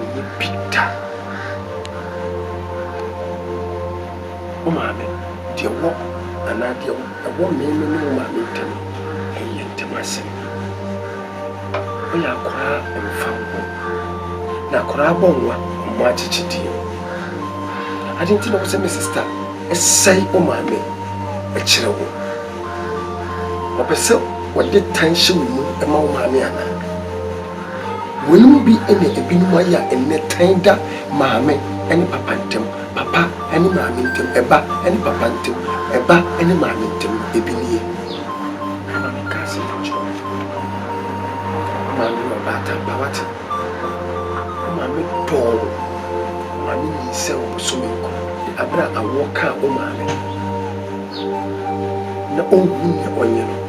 Ɔnyɛ bi da. Wo maame, deɛ ɛwɔ anaa deɛ ɛwɔ me ne wo maame ntam no, ɛyɛ yɛn ntam asɛm. Wo yɛ akwadaa mfa wo ho. Na akwadaa abɔ nwa, mmɔ akyekyedeɛ. Adeɛ nti na wo sɛ me sista sɛe wo maame kyerɛ wo? Ɔpɛ sɛ ɔde tan hyɛ wo mu ma wo maame anaa? Wɔn mu bi na ebinom ayɛ a ɛnnɛ tan da maame ne papa ntam, papa ne maame ntam, ɛba ne papa ntam, ɛba ne maame ntam no, ebi nie. Hannah bɛka asɛm bi kyerɛɛ wo maame ma ɔbaatan ba, woate? Wo maame dɔɔ wo, wo maame nyinsɛn wo bosome nkron, na bere a awoɔ kaa wo maame no, na ɔnhu nea ɔnyɛ no.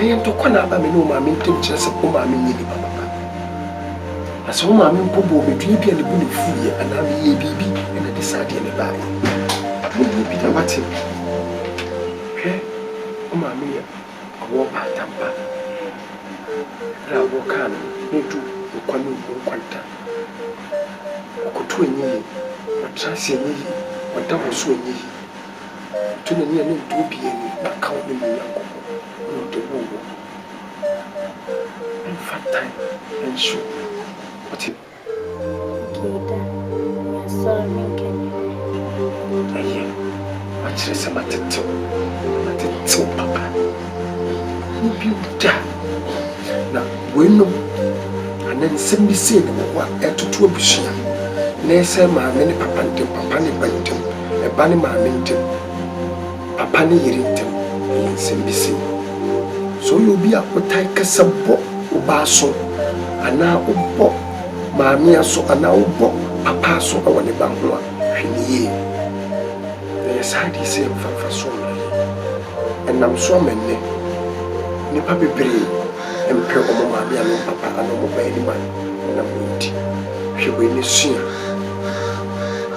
Ɛyɛ ntɔkwa na aba me ne wo maame ntam kyerɛ sɛ wo maame nyɛ nipa papa. Na sɛ wo maame mpo bɔɔ me dua bi a ne bo na fuiɛ anaa meyɛɛ biribi na ɛde saa adeɛ no baeɛ. Ɛho hia pii wate. Hwɛ, wo maame yɛ ɔwɔ mpataa pa. Berɛ a wɔkaa no no, na ɛdu nkwa ne owuo nkwanta. Ɔkoto ɛnyɛ yie, ɔtra ase ɛnyɛ yie, ɔda wɔ so ɛnyɛ yie. Ɔto n'ani a na ɔnto obiara ani, na aka wo ne me Nyankopɔn, na ɔde woo wo no, ɛmfa tan nhyɛ obi. Wote? Okay, da. Measɔre, menkɛ me ho hwee. Ɛyɛ. Makyerɛ sɛ matete wo, na matete wo papa. Ɛnyɛ bio da. Na weinom, anaa nsɛm bi sei na ɛwɔ hɔ a ɛtoto abusua, na ɛsɛe maame ne papa ntam, papa ne ba ntam. ba ne maame ntam, papa ne yere ntam ɛyɛ nsɛm bi sei. Sɛ woyɛ obi a wotae kasa bɔ wo ba aso anaa wobɔ maame aso anaa wobɔ papa aso wɔ ne ba ho a, hwɛ no yie. Na yɛ saa adeɛ sei ɛmfa mfasoɔ mmerɛ yɛ. Ɛnam so ama nnɛ nnipa bebree mpɛ wɔn maame anaa wɔn papa anaa wɔn ba anim a ɛnam wei nti. Hwɛ wei na sua.